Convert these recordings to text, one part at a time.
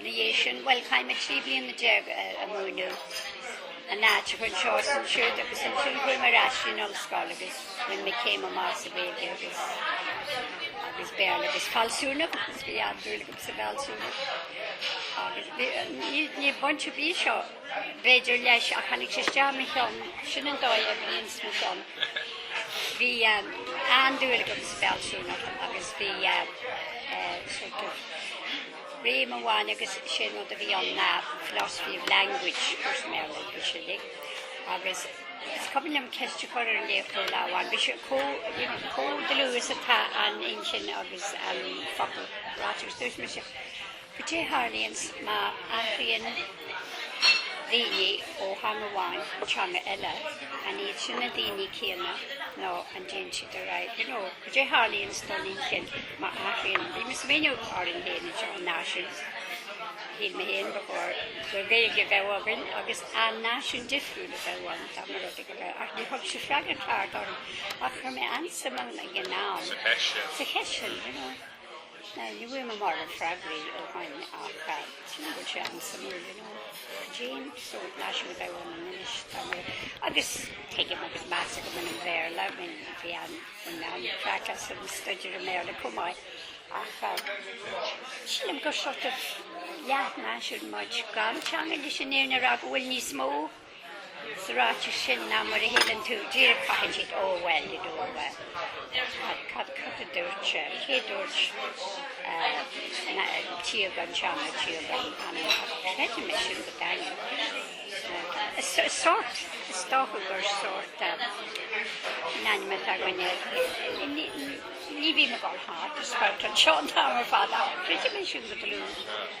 dhiaidh sin, bhuel, chaith mé trí bliana déag a' múineadh in áiteacha anseo is ansiúd agus ansin chuaigh mé ar ais go dtí an ollscoil agus bhain mé céim amach sa Ghaeilge agus, agus Béarla agus fealsúnacht, is bhí an-dúil agam sa bhfealsúnacht agus ní, ní, ní bainte a bhí seo. B'fhéidir leis, ach tháinig sé isteach i mo cheann, sin an dóigh a bhí ins mo cheann. Bhí an-dúil agam sa bhfealsúnacht agus bhí sort of réimse amháin agus sé an rud a bhí ann ná philosophy of language, chuir mé an-suim ann sin uilig. Agus is cuimhin liom ceist a chur ar an léachtóir lá amháin, bhí sé chomh, chomh dlúth is atá an inchinn agus an focal ráite, agus dúirt mise, Cad é a tharlaíonn má athraíonn daoine ó theanga amháin go teanga eile? An iad sin na daoine céanna nó an dtéann siad ar athrú? You know, cad é a tharlaíonn don inchinn má athraíonn, bhí mé ag smaoineamh orainn féin anseo an náisiún, shíl mé féin ba chóir gur Gaeilge a bheadh againn agus arbh náisiún difriúil a bheadh ann dá mba rud é go raibh, ach ní thug sé freagra ceart orm ach chuir mé an-suim ann ag an am, sa cheist sin, you know. Ní bhfuair mé mórán freagraí ó shoin ach sílim go bhfuil sé an-suimiúil, you know, cén sórt náisiún a bheadh ann inniu, tá mé, agus tuigim agus meas agam ar an Bhéarla, I mean, bhí an, bhain mé an-chraic as an staidéar ar Bhéarla chomh maith, ach sílim gur sort of leath-náisiún muid, gan teanga leis an fhírinne a rá go bhfuil níos mó. Sa ráiteas sin, ná mar a shíleann tú, díreach ciallaíonn sé a bhfuil i dtobar. Cad a dúirt sé? Cé dúirt tír gan teanga, tír gan anam? Creidim é sin go daingean. Sórt, is dócha gur sórt mana againn é. Ní bhím ag dul thart, ag spalpadh seo an t-am ar fad, ach creidim é sin go dlúth.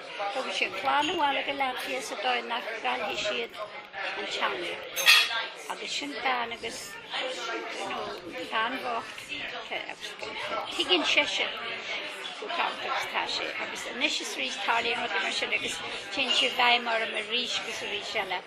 Thug sé sin a chlann abhaile go Latvia sa dóigh nach gcaillfidh siad an teanga agus sin gan agus nó gan bhochtacht agus tuigeann seisean go ceart agus tá sé agus anois is arís tarlaíonn rudaí mar sin agus téann sé i bhfeidhm orm arís agus arís eile.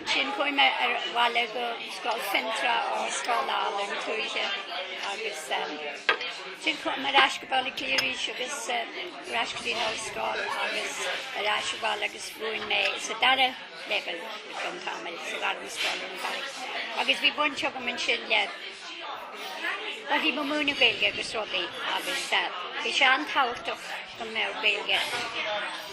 Ansin chuaigh mé abhaile go scoil Fhionntrá, ó scoil álainn tuaithe agus ansin chuaigh mé ar ais go Baile Átha Cliath arís agus ar ais go dtí an ollscoil agus ar ais abhaile agus mhúin mé sa dara leibhéal ar feadh tamaill, sa ghairmscoil ar an Charraig. Agus bhí baint agam ansin le, bhuel bhí mé ag múineadh Gaeilge agus rudaí agus bhí sé an-tábhachtach go mbeadh Gaeilge.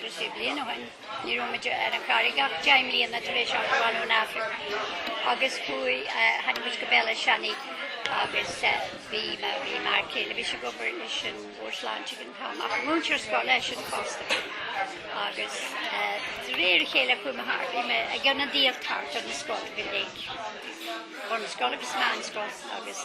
Trí bliana ó shin, ní raibh muid ar an gCarraig ach deich mbliana tar éis ár gclann ón Afraic agus chuaigh, tháinig muid go Béal Átha Seanaidh agus bhí m'fhear céile, bhí sé ag obair leis an Bhord Sláinte ag an t-am, ach múinteoir scoile eisean fosta. Agus de réir a chéile chuaigh mé thart, bhí mé ag ionadaíocht thart ar na scoil go léir. Bunscoil agus meánscoil agus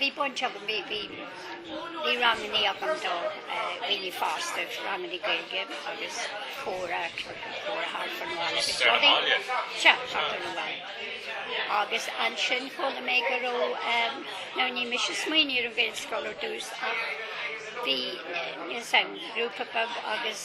Bhí baint agam, bhí bhí rangannaí agam do dhaoine fásta, rangannaí Gaeilge agus comhrá, comhrá thart fán bhaile agus rudaí, sea, thart fán bhaile. Agus ansin chuala mé go raibh, nó ní mise a smaoinigh ar an Ghaelscoil ar dtús ach bhí, níl a fhios agam, grúpa beag agus,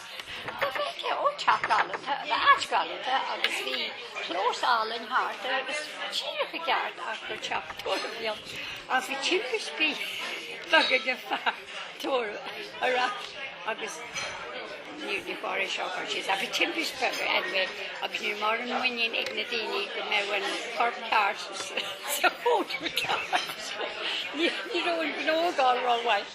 Agus ó teach galánta ab ea áit ghalánta agus bhí clós álainn thart air agus díreach i gceart ach gur teach tórraimh a bhí ann agus bhí timpistí beaga ag an fhear tórraimh ar ais agus níor ní chóir é seo a chur síos ach bhí timpistí beaga anyway agus ní raibh mórán muinín ag na daoine go mbeadh an corp ceart sa chónra cheart ní raibh an gnó go rómhaith.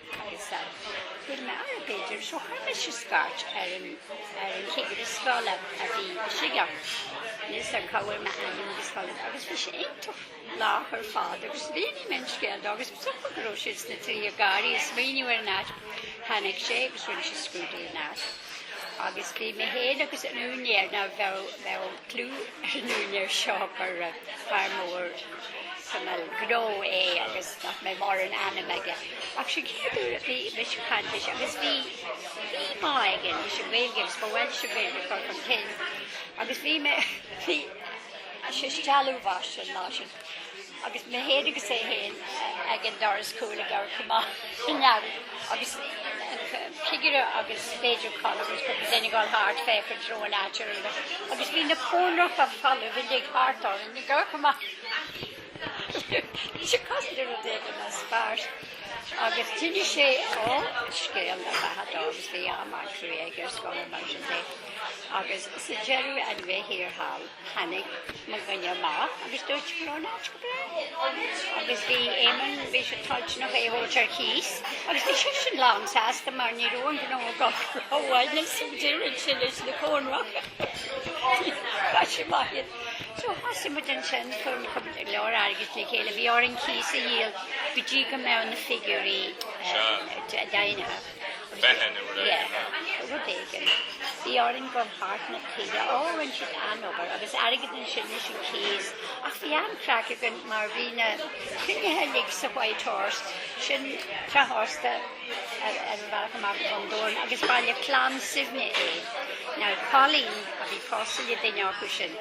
Chuir m'fhear, b'fhéidir, so chuir mise scairt ar an chigire scoile a bhí i Sligeach, níl a fhios agam cá bhfuair mé a ainm agus scoileanna, agus bhí sé iontach lách ar fad agus mhínigh mé an scéal dó agus is dócha go raibh siad sna trithí ag gáirí ag smaoineamh ar an áit. Tháinig sé agus rinne sé scrúdú ar an áit. Agus bhí mé féin agus an úinéir, ná bheadh, bheadh clú ar an úinéir seo gur fear mór tamall gnó é agus nach mbeadh mórán ama aige. Ach sin an chéad uair a bhí mise ag caint leis agus bhí, bhí bá aige leis an Ghaeilge agus ba mhaith leis an Ghaeilge a chur chun cinn agus bhí mé, bhí, sé ag stealladh anuas an lá sin. Agus mé féin agus é féin ag an doras cúil ag amharc amach san earraigh agus an cigire agus b'fhéidir cáil agus go mba ag gabháil thart fé chun treo an áit ar uair agus bhí na cónracha folamh a bhí thart orainn ag amharc amach bhí sé cosúil le rud éigin a spáirt agus d'inis sé ó scéal a bheatha dom agus bhí am acu é ag iarraidh scoil mar sin de agus sa deireadh anyway thiar thall. Tháinig mo dhuine amach agus dúirt go raibh an áit go breá. Agus bhí Éamon, bhí sé toilteanach é a thabhairt ar cíos, agus bhí seisean lánsásta mar ní raibh an gnó go rómhaith le súdíreann sé leis na cónracha. Tá sé maith iad. So thosaigh muid ansin ag cur go leor airgead le chéile, bhí orainn cíos a dhíol go dtí go mbeadh na figiúirí daingnithe. bheith in uair éigin ná. Yeah, rud éigin. Bhí orainn gabháil thart na tíre. Ó, rinne siad an-obair agus airgead ansin leis an chéas. Ach bhí an-craic againn mar bhí na cruinnithe uilig sa White Horse, sin teach ósta ar an bhealach amach ón town, agus ba le clann Suibhne é. Now, Colleen, a bhí pósta le duine acu sin,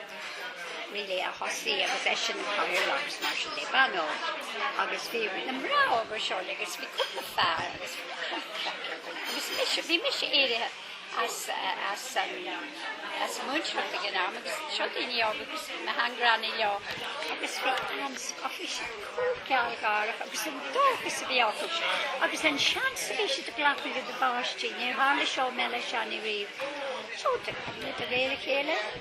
Really a thosaigh agus í sin an cathaoirleach agus mar sin de Bano agus bhí na mná óga seo le agus bhí cúpla fear agus agus mise bhí mise éirithe as as an as an múinteoireacht ag an am agus seo daoine óga agus na hEangránaigh leo agus bhí an-sc ach bhí siad chomh gealgháireach agus an dóchas a bhí acu agus an seans a bhí siad ag glacadh lena gcuid páistí níor tharla seo i mBéal Átha Seanaidh riamh so do cuireadh mé de réir a chéile.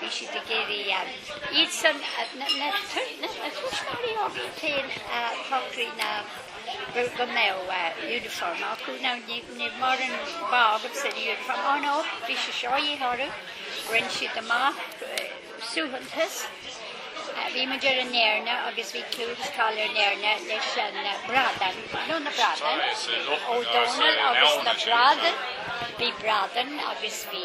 Bhí siad ag iarraidh iadsan, na tuismitheoirí iad féin, a shocraigh ná go mbeadh uniform acu. Now ní raibh mórán bá agamsa an uniform. Ó no, bhí sé seo a dhíth orthu. Rinne siad amach suaitheantas. Bhí muid ar an Éirne agus bhí clú agus cáil ar an Éirne leis an bradán, nó na bradán, Ó Dónaill agus na bradán. Bhí bradán agus bhí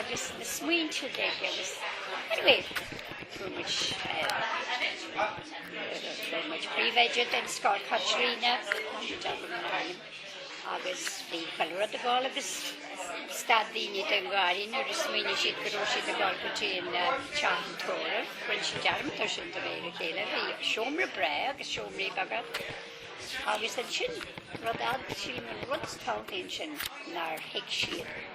agus na smaointe de agus anyway fuair muid fuair muid príomhoide den scoth Caitríona agus bhí chuile rud ag gabháil agus stad daoine den gháire nuair a smaoinigh siad go raibh siad ag gabháil go dtí an teach an tórraimh rinne siad dearmad air sin de réir a chéile bhí seomra breá agus seomraí beaga agus ansin rud eile sin an rud is tábhachtaí ansin nár thuig siad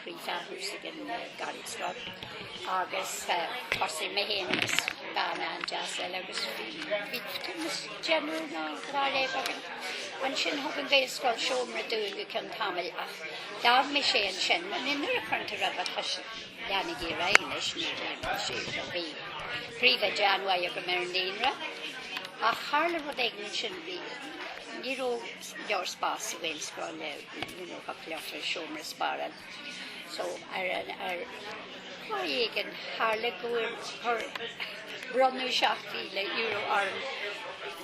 príomhfhealsúnacht an Gaelscoil agus thosaigh mé féin agus bean an-deas eile agus bhí tumas deireanna ná dhá léamh againn. Ansin thug an Gaelscoil seomra dúinn go cionn tamaill ach ghabh mé sé ansin. Ina nuair a chuirtear ar do chois leanaigh iarraidh a anois, ní dhein mé sé seo. Bhí príomhoide an-mhaith agam ar an naíonra ach tharla rud éigin ansin, bhí ní raibh leor spás sa Ghaelscoil le Iniúchadh leochaileach seomra spare ann so ar an lá éigin tharla gur bronnadh €7,000 orm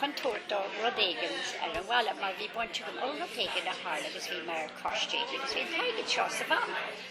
chun tabhairt do rud éigin ar an bhaile mar bhí baint agam le rud éigin a tharla agus bhí mé mar custodian agus bhí an t-airgead seo sa bhanc.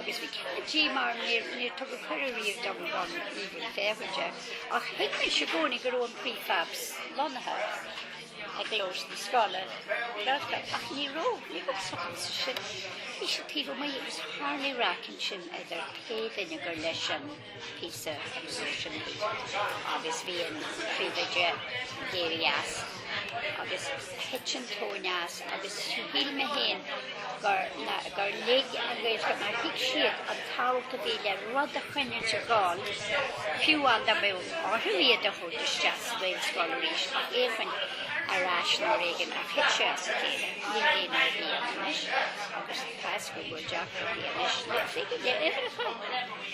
agus bhí cead di mar níor níor tugadh cuireadh riamh dom gan íobairt fémhair de, ach thuig mise i gcónaí go raibh an prefabs lonnaithe i gclós na scoile, ach ní raibh, ní raibh sochas ansin. Bhí siad taobh amuigh agus tharlaigh raic ansin idir pé duine gur leis an. píosa emotion agus bhí an príomhoide d'éirigh as agus thit an tóin as agus shíl mé féin gur na gur lig an Ghaelscoil mar thuig siad an tábhacht a bhí le rud a choinneáil ag gabháil fiú amháin dá mba orthu iad a thabhairt isteach sa Ghaelscoil arís ach éifinn ar ais nó rud éigin ach thit sé as a chéile níl aon aidhm ann anois agus tá a fhios go bhfuil deacracht acu anois le figiúirí le uimhreacha.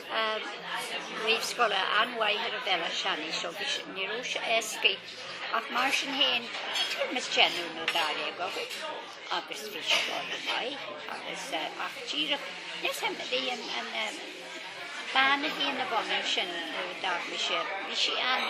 réamhscoile an-mhaith ar Bhéal Átha Seanaidh so ní raibh sé éascaidh ach mar sin féin tuairim is deichniúr nó dáréag againn agus bhí scoil an-mhaith agus ach díreach níl fhios a'm bhí an bhean a bhí ina bhun ansin nó dar mise bhí sí an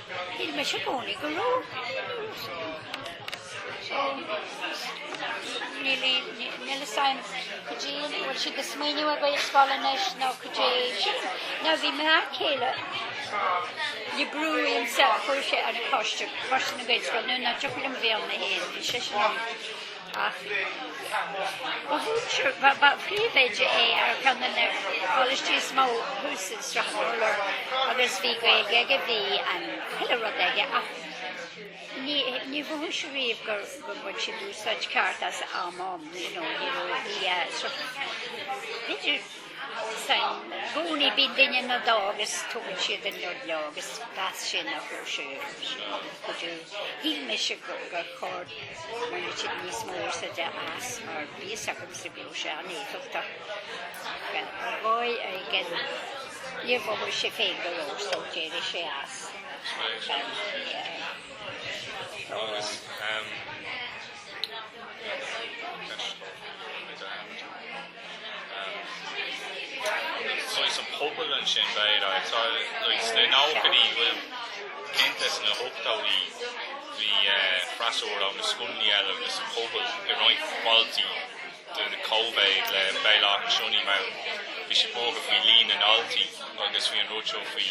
Shíl mise i gcónaí go raibh níl fhios a'm caidé an bhfuil siad ag smaoineamh ar Ghaelscoil anois nó caidé sin. Ná bhí m'fhear céile le brú uaimse a chuaigh sé ar an choiste, coiste na Gaelscoile, nó ní thiocfadh liom a bheith ann mé fhéin, bhí seisean ann. Ba mhúinteoir, ba phríomhoide é ar cheann de na coláistí is mó thuas i Strathmore agus bhí Gaeilge aige, bhí an chuile rud aige ach níor mhothaigh sé riamh gur bhain siad úsáid ceart as a am. Bhí I gcónaí bíonn duine nó dhó agus tugann siad an rud leo agus b'as sin a chuir sé sé chucu. Shíl mise gur gur chóir go mbainfeadh siad níos mó úsáide as mar bhí fhios agamsa go raibh sé an-éifeachtach. Ar dhóigh éigin níor mhothaigh sé féin go leor so d'éirigh sé as. Tá. Saghas an pobal ansin b'fhéidir, like, sna nóchaidí, bhuel, cinnte sna hochtóidí, bhí, eh, freasúra ó na scoileanna eile agus an pobal i roinnt bailte de chóimhéid le Béal Átha Seanaidh, mar bhí siad buartha faoi líon na ndaltaí agus faoi an rud seo faoi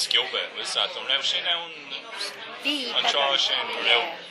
sciobadh, bhuel, sea, an raibh sin ann an tráth sin, go raibh.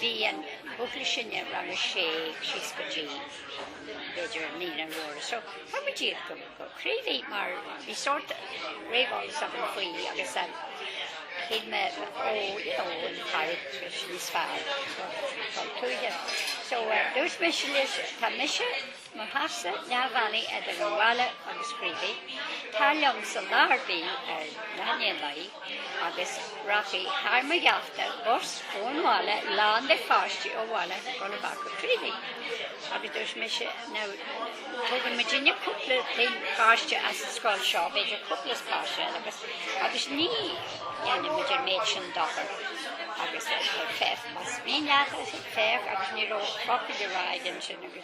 Bhí an buachaill sin i rang a sé síos go dtí, b'fhéidir, an líne mhór. So, thug muid iad go Creevy mar bhí sórt réamheolas agam faoi agus shíl mé, ó, you know, an carraig is níos fearr, tá tuaithe. So, dúirt mise leis, tá mise mise i mo sheasamh, na mbailí idir an bhaile agus Creevy, tar liomsa lá ar bith ar mheán lae agus rachaidh thar mo gheafta bus ón bhaile lán de pháistí ó bhaile ag gabháil amach go Creevy. Agus dúirt mise, now, tugann muid dóibh cúpla páiste as an scoil seo, b'fhéidir cúpla páiste eile agus agus ní dhéanann muid an méid sin dochar agus fef mas mí neachas fef agus ní ro focail de ra sin agus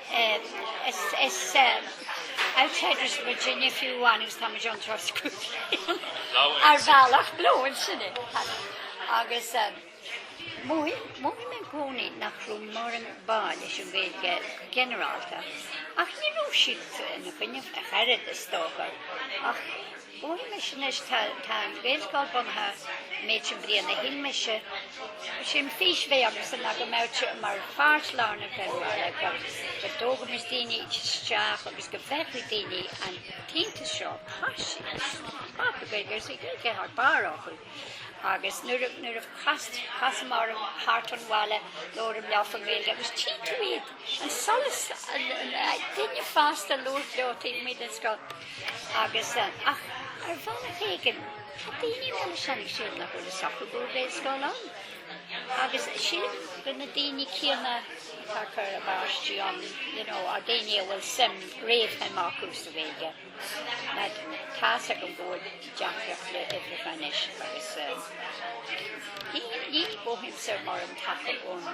Is is outsiders of Virginia fiú amháin agus táimid ann troscúlaithe ar bhealach lóin sin é. Agus mhothaigh mé i gcónaí nach raibh moran bá leis an Ghaeilge go ginearálta, ach ní raibh siad ina gcoinne ach oiread, is dócha, ach Bhuel, anois, tá an Gaelscoil bunaithe an méid sin blianta, shíl mise, sé an fhís a bhí agamsa ná go mbeadh sé mar pháirt lárnach den bhaile, go dtógaimis daoine isteach agus go bhfeicfeadh daoine an t-iontas seo, páistí le Gaeilge, is bhí Gaeilge thar barr acu agus nuair a, nuair a chasamar thart an bhaile labhaireamar leo faoin Ghaeilge agus tchí tú iad, an solas, an, duine fásta labhairt leo taobh amuigh den scoil. Agus, ach ar bhealach éigin, tá daoine ann a shannfaidh siad nach bhfuil a socrú go bhfuil Gaelscoil ann. Agus sílim gur na daoine céanna atá ag cur a bpáistí ann, you know, ár daoine a bhfuil suim, réamhshuim acu sa Ghaeilge. Ná tá's agam go bhfuil deacrachtaí le uimhreacha anois agus, ní, ní, ní mhothaímse mórán taca ón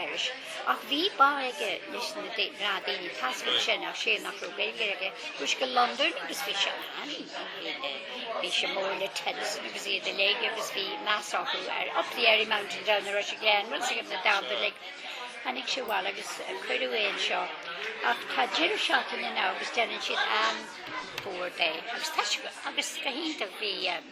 Irish. Ach bhí bá aige leis na daoine tascaire sin, ach sé nach raibh Gaeilge aige, chuaigh sé go Londain agus bhí sé an-fhíor. Bhí sé mór le Tennyson agus iad uilig agus bhí meas orthu ar Up the Airy Mountain Down the Rushy Glen, rud a thuig na daltaí uilig. Tháinig sé abhaile agus cuireadh é anseo. Ach tá deireadh seachtaine ann agus déanann siad an-tóir de. Agus tá sé go, agus go hiontach. Bhí.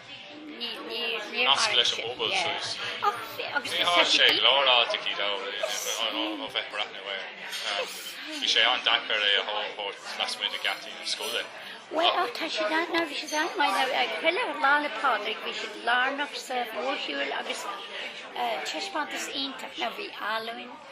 nasc leis an bpobal suas. Ní raibh sé glórach a dhóthain ó bheith breathnú air. Bhí sé an-deacair é a thabhairt lasmuigh de geataí na scoile. Bhuel, ach tá siad ann ná bhí siad ann mar Lá Fhéile, Lá 'le Pádraig bhí siad lárnach sa mhórshiúil agus taispeántas iontach ná bhí áluinn,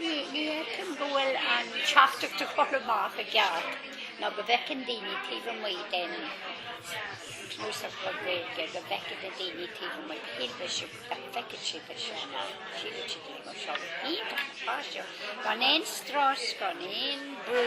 Ní fheicim go bhfuil an teachtaireacht ag dul amach i gceart ná go bhfeiceann daoine taobh amuigh de chúrsaí Gaeilge go bhfeiceann na daoine taobh amuigh shílfidh siad nach bhfeiceann siad é seo ná síleann siad é mar seo páistí seo gan aon strus gan aon brú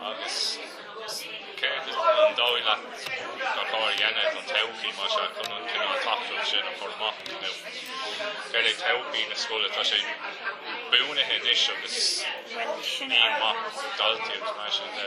Agus céard is dóigh leat gur chóir a dhéanamh don todhchaí mar seo chun an cineál teachtaireacht sin a chur amach? Nó céard é todhchaí na scoile? Tá sé bunaithe anois agus líon maith daltaí agus mar sin de.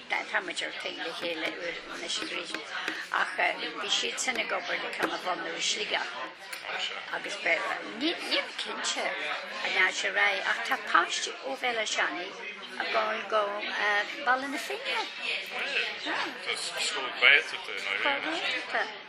Tá muid ar taobh le chéile uair anois i gcrích, ach bhí siadsan ag obair le ceann a bhunú i Sligeach agus Béarla. Nílim cinnte an ndeachaigh sé ar aghaidh, ach tá páistí ó Bhéal Átha Seanaidh ag gabháil go Baile na Finne. Tá, tá. Tá, tá.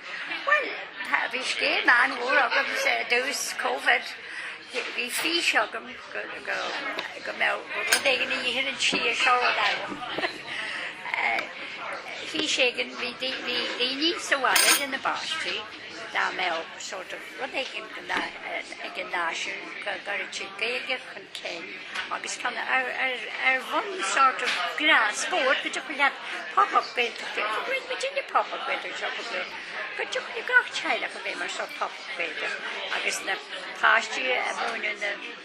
Bhuel, bhí scéim an-mhór agamsa i dtús Covid. Bhí fís agam go mbeadh rud éigin a dhéanann sí a seo agam. Fís éigin bhí daoine sa bhaile lena bpáistí go mbeadh sórt of Rud éigin ag an náisiún, go gcuireann siad Gaeilge chun cinn agus tá ar bhonn sort of gnás spóirt go dtiocfaidh leat pop up Gaeltachta, go bhfuil muid ag an pop up Gaeltachta seo go deo, go dtiocfaidh le gach teaghlach a bheith mar sort pop up Gaeltacht agus na páistí a mhúineadh na.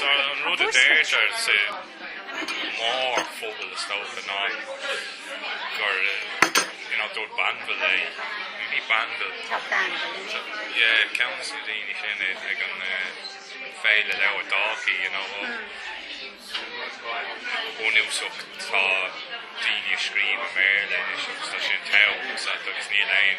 An rud a deirtear sa mhórphobal, is dócha, ná gur dúirt Banville é, nó ní Banville, ceann dos na daoine sin ag an bhféile leabhar Dalkey, you know, go bunúsach tá daoine ag scríobh i mBéarla anois agus tá sé an t-am, agus níl aon.